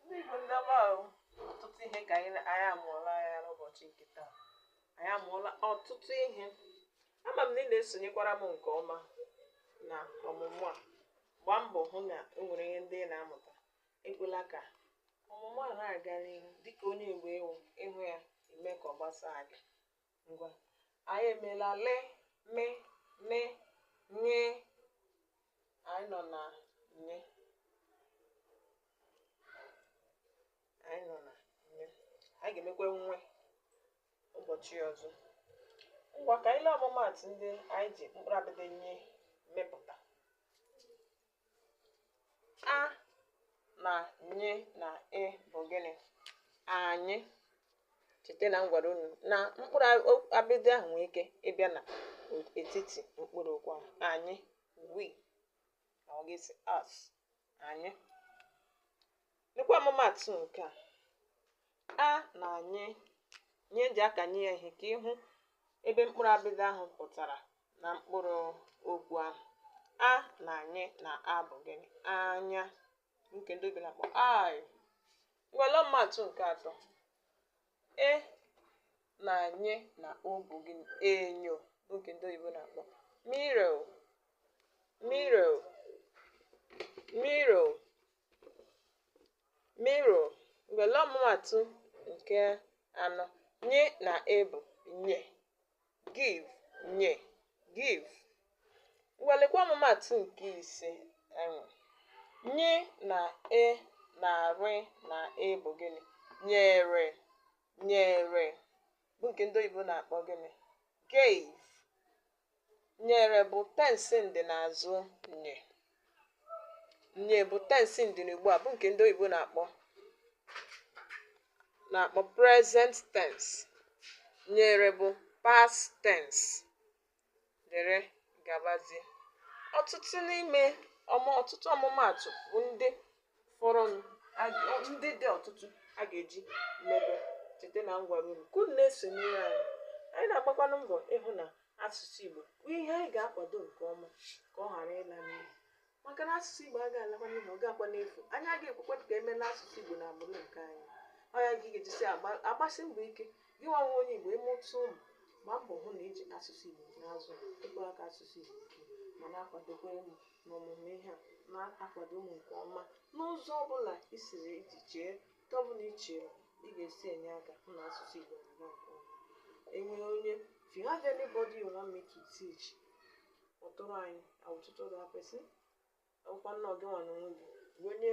ndị Igbo ndị ọma ahụ ọtụtụ ihe ka anyị na- anyị amụọla ya n'ụbọchị nke taa anyị amụọla ọtụtụ ihe ama m na ị na-esonyekwara m nke ọma na ọmụmụ a gbaa mbọ hụ na e nwere ihe ndị ị na-amụta ekwela ka ọmụmụ a na-aga n'ihu dịka onye Igbo ị wụ ị hụ ya i mee ka ọ gbasaa gị ngwa anyị emeela le me ne nye anyị nọ na nye anyị nọ na nye anyị ga-emekwa nwe ụbọchị ọzọ ngwa ka anyị lee ọmụmaatụ ndị anyị ji mkpụrụ abịdị nye mepụta a na nye na ị bụ gịnị anyị cheta na m gwara unu na mkpụrụ abịdị ahụ nwee ike ịbịa na etiti mkpụrụ okwu ahụ anyị we na ọ ga-esi us anyị Lekwa ọmụmaatụ nke a. A na nye nye eji akanye ya ihe ka ị hụ ebe mkpụrụ abịdị ahụ pụtara na mkpụrụ okwu ahụ. A na nye na a bụ gịnị? Anya. Nke ndị oyibo na-akpọ eye. Ngwa lee ọmụmaatụ nke atọ. E na nye na o bụ gịnị? Enyo nke ndị oyibo na-akpọ mirror. Mirror. Mirror. Mirror ngwa lee ọmụmaatụ nke anọ nye na e bụ nye give nye give ngwa lekwa ọmụmaatụ nke ise e nwere nye na e na re na e bụ gịnị nyere nyere bụ nke ndị oyibo na-akpọ gịnị gave nyere bụ tensị ndị n'azụ nye nye bụ tensị ndị n'ugbu a bụ nke ndị oyibo na-akpọ present tense nyere bụ past tense dere gabazie ọtụtụ n'ime ọmụ ọtụtụ ọmụmaatụ bụ ndị fọrọnụ ndị dị ọtụtụ a ga-eji mebe cheta na m gwara unu ka unu na-esonyere anyị anyị na-agbakwanụ mbọ ịhụ na asụsụ Igbo bụ ihe anyị ga-akwado nke ọma ka ọ ghara ịla n'iyi maka na asụsụ Igbo agaghị alakwa n'iyi ọ gaghị alakwa n'efu anyị agaghị ekwekwa ka e mee na asụsụ Igbo na agbụrụ nke anyị ọ ya ka ị ga-ejisi agbasi mbọ ike gị nwa wụ onye Igbo ị mụta ụmụ gbaa mbọ hụ na i ji asụsụ Igbo na-azụ ịkpọrọ aka asụsụ Igbo ma na-akwadokwa emu n'ọmụmụ ihe a na-akwado mụ nke ọma n'ụzọ ọ bụla i siri iji chee nke ọ bụla i chere ị ga-esi enye aka hụ na asụsụ Igbo na-aga nke ọma e nwere onye if you have anybody you want me to teach kpọtụrụ anyị I will tutor that person ọkwa na ọ gị nwa n'onwe gị bụ onye